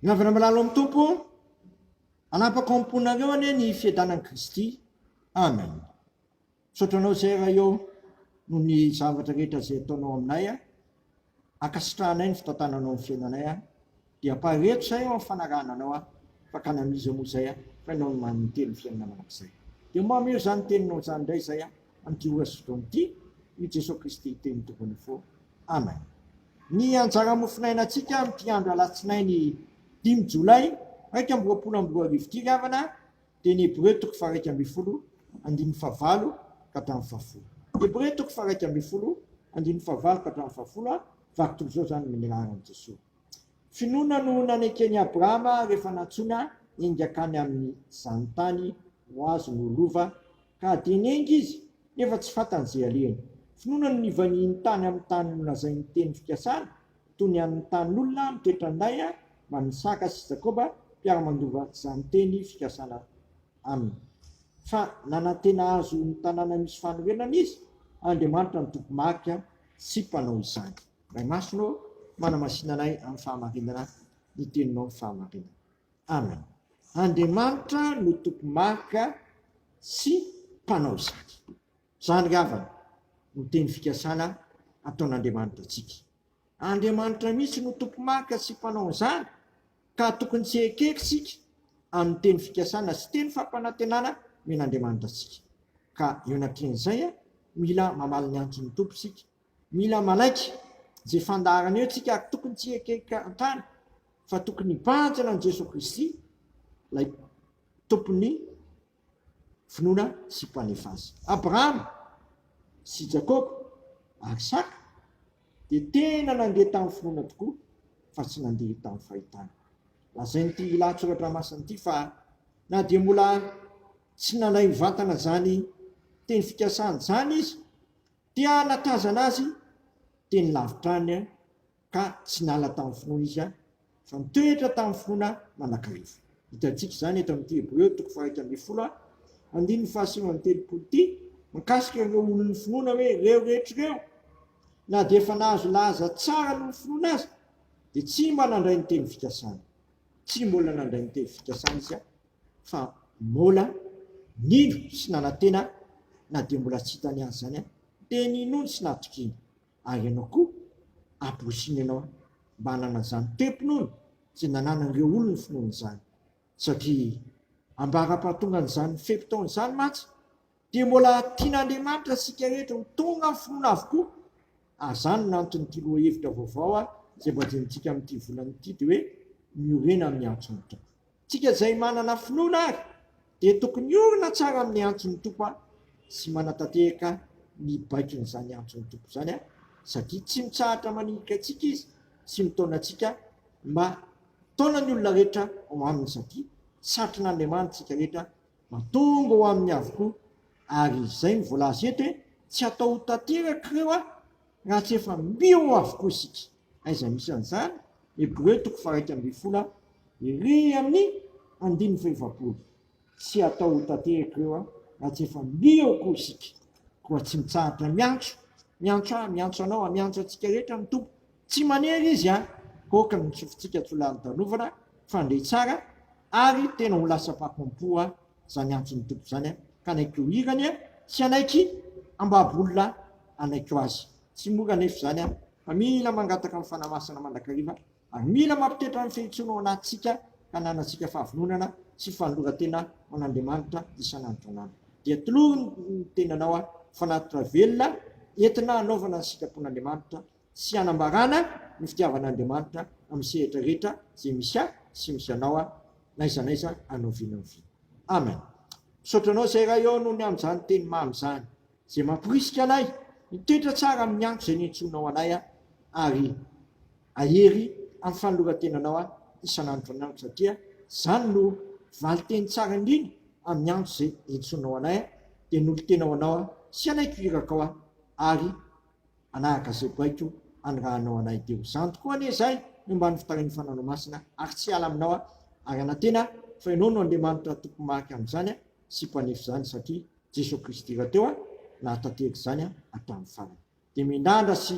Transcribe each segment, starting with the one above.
Miangona malalo amin'ny Tompo, hanapaka ao am-ponareo anie ny fiadanan'i Kristy. Amen. Misaotra anao izay raha eo noho ny zavatra rehetra izay ataonao aminay a. Ankasitrahanay ny fitantananao ny fiainanay a. Dia ampahareto izay ao amin'ny fanarahana anao a. Fakana an'iza moa izay a. Fa ianao no maninteny ny fiainana mandrakizay. Dia mba omeo izany teninao izany indray izay a. an'ity ora sy fotoana ity i Jesoa Kristy Teny Tompony Fo. Amen. Ny anjara mofonainantsika amin'ity andro Alatsinainy dimy Jolay iraika amby roapolo amby roa arivo ity ry havana dia ny Hebreo toko faharaika ambin'ny folo andininy fahavalo ka hatramin'ny fahafolo. Hebreo toko faharaika ambin'ny folo andininy fahavalo ka hatramin'ny fahafolo a, vaky toy izao izany ny laharan'i Jesoa. Finoana no naneken'i Abrahama rehefa nantsoina enga hankany amin'izany tany ho azony ho lova, ka dia nenga izy, nefa tsy fantany izay alehany. Finoana no nivaniany tany amin'ny tany nolazain'ny teny fikasana, toy ny an'ny tanin'olona mitoetra an-day man'ny Isaka sy Jakoba, mpiara-mandova izany teny fikasana aminy. Fa nanantena azy ho ny tanàna misy fanorenana Izy, Andriamanitra ny Tompo Marika, tsy mpanao izany. Ray Masina ô, manamasina anay amin'ny fahamarinana ny Teninao ny fahamarinana. Amen. Andriamanitra no Tompo Maka sy Mpanao izany. Izany ry havana no teny fikasana ataon'Andriamanitra antsika. Andriamanitra mihitsy no Tompo Maka sy Mpanao an'izany ka tokony tsy hekeky isika amin'ny teny fikasana sy teny fampanantenana omen'Andriamanitra antsika. Ka eo anatrehan'izay, mila mamaly ny antson'ny Tompo isika Mila manaiky izay fandaharana eo tsika ary tokony tsy ekekantany fa tokony hibanjina an'i Jesoa Kristy ilay tompon'ny finoana sy mpanefa azy. Abrahama sy Jakoba ary Isaka dia tena nandeha tamin'ny finoana tokoa fa tsy nandeha tamin'ny fahitana. Lazain'ity lahatsoratra masina ity fa na dia mbola tsy nandray mivantana izany teny fikasany izany izy Te hanatazana azy teny lavitra any ka tsy niala tamin'ny finoana izy fa nitoetra tamin'ny finoana manakariva. Hitantsika izany eto amin'ity Hebreo toko faha-iraika ambin'ny folo, andininy fahasivy amby telopolo ity, mikasika ireo olon'ny finoana hoe ireo rehetra ireo, na dia efa nahazo lahaza tsara noho ny finoana aza, dia tsy mba nandray ny teny fikasana. Tsy mbola nandray ny teny fikasana izy. fa Mola nino sy nanantena na dia mbola tsy hitany azy izany dia ninoany sy natokiany ary ianao koa ampirosino ianao mba hanana izany toe-pinoana izay nananan'ireo olon'ny finoana izany satria ambara-pahatongan'izany fe-potoana izany mantsy dia mbola tian'Andriamanitra isika rehetra ho tonga amin'ny finoana avokoa, ary izany no anton'ity lohahevitra vaovao izay mba jenintsika amin'ity volana ity, dia hoe miorena amin'ny antson'ny Tompo. Isika izay manana finoana ary dia tokony hiorina tsara amin'ny antson'ny Tompo sy manatanteraka ny baikon'izany antson'ny Tompo izany, satria tsy mitsahatra manilika antsika Izy sy mitaona antsika, mitaona ny olona rehetra ao aminy satria satrina Andriamanitra isika rehetra Mahatonga ho aminy avokoa. Ary izay no voalaza eto hoe tsy hatao ho tanteraka ireo a! raha tsy efa mbio avokoa isika. Aiza misy an'izany? Hebreo toko faharaika ambin'ny folo a. Ery amin'ny andininy fahefapolo. Tsy hatao ho tanteraka ireo a! raha tsy efa mbio avokoa isika. Koa tsy mitsahatra miantso, miantso ahy, miantso anao, miantso antsika rehetra ny Tompo Tsy manery izy an! Hokany ny sofintsika tsy ho lany tanovana fa ndre tsara ary tena ho lasa mpako am-po an! zany antson'ny Tompo zany an! kanaikeo hirany an! tsy hanaiky hambabo olona hanaiko azy! tsy mora anefa izany an! fa mila mangataka ny Fanahy Masina mandrakariva ary mila mampitoetra ny fihintsoana ao anatintsika ka hananantsika fahavononana sy fanoloran-tena ho an'Andriamanitra isan'andro isan'andro! dia tolory ny tenanao an! fanatitra velona entina hanaovana ny sitrapon'Andriamanitra sy hanambarana ny fitiavan'Andriamanitra amin'ny sehatra rehetra izay misy ahy sy misy anao aho, n'aiza n'aiza anao vina ho vina. Amen. Misaotra anao izay Ray ô noho ny amin'izany teny mamy izany izay mamporisika anay hitoetra tsara amin'ny andro izay niantsoanao anay aho ary hahery amin'ny fanoloran-tenanao aho isan'andro isan'andro satria izany no valin-teny tsara indrindra amin'ny andro izay iantsoanao anay aho dia nolo-tena ho anao aho sy hanaiko iraka ao aho ary Hanaraka izay baiko anirahanao anay dia ho zany tokoa anie izahay ny ambany fitarihan'ny Fananao Masina ary tsy hiala aminao aho ary hanantena fa Ianao no Andriamanitra Tompo Marika amin'izany sy Mpanefy izany satria Jesoa Kristy rahateo nahatanteraka izany hatramin'ny farany. Dia miandrandra sy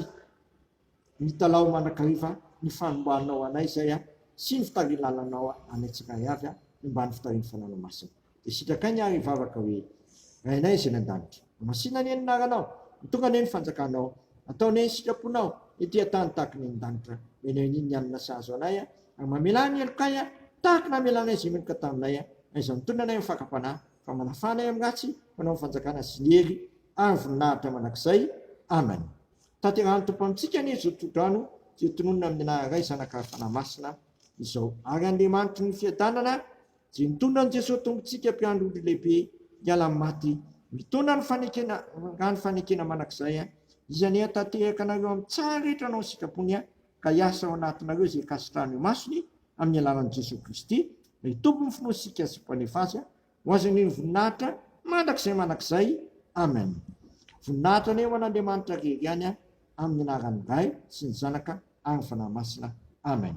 mitalaho mandrakariva ny fanombanao anay izay sy ny fitarilalanao anay tsirairay avy ny ambany fitarihan'ny Fananao Masina. Dia sitrakai ny ary hivavaka hoe, Rainay izay any an-danitra. Masina anie ny anaranao. Mitongana anie ny fanjakanao. Atao anie ny sitraponao ety an-tany tahaka ny any an-danitra. Omena anie ny hanina sahaza anay ary mamela ahy ny helokay tahaka ny namelanay izay meloka taminay. Aiza ny tolona anay amin'ny fakam-panahy, fa manafà anay amin'ny ratsy, manao ny fanjakana sy ny hery ary ny voninahitra mandrakizay. Amen. Tanterahan'ny Tompo amintsika anie izao tsodrano izay tononina amin'ny anaran'ny Ray, Zanaka ary Fanahy Masina izao. Ary Andriamanitry ny fiadanana Dia nitondra an'i Jesoa Tompon-tsika mpiandry ondry lehibe hiala amin'ny maty, mitaona ny fanekena nga ny fanekena manak'izay a, izy anie hatatehaka anareo amin'ny tsara rehetra anao sikapony a, ka hiasa ao anatinareo izay kasitrahan'ny masony amin'ny alalan'i Jesoa Kristy, ilay Tompon'ny finoantsika sy Mpanefa azy a, ho azy anie ny voninahitra mandrakizay mandrakizay. Amen. Voninahitra anie ho an'Andriamanitra rery ihany a, amin'ny anaran'ny Ray sy ny Zanaka ary ny Fanahy Masina. Amen.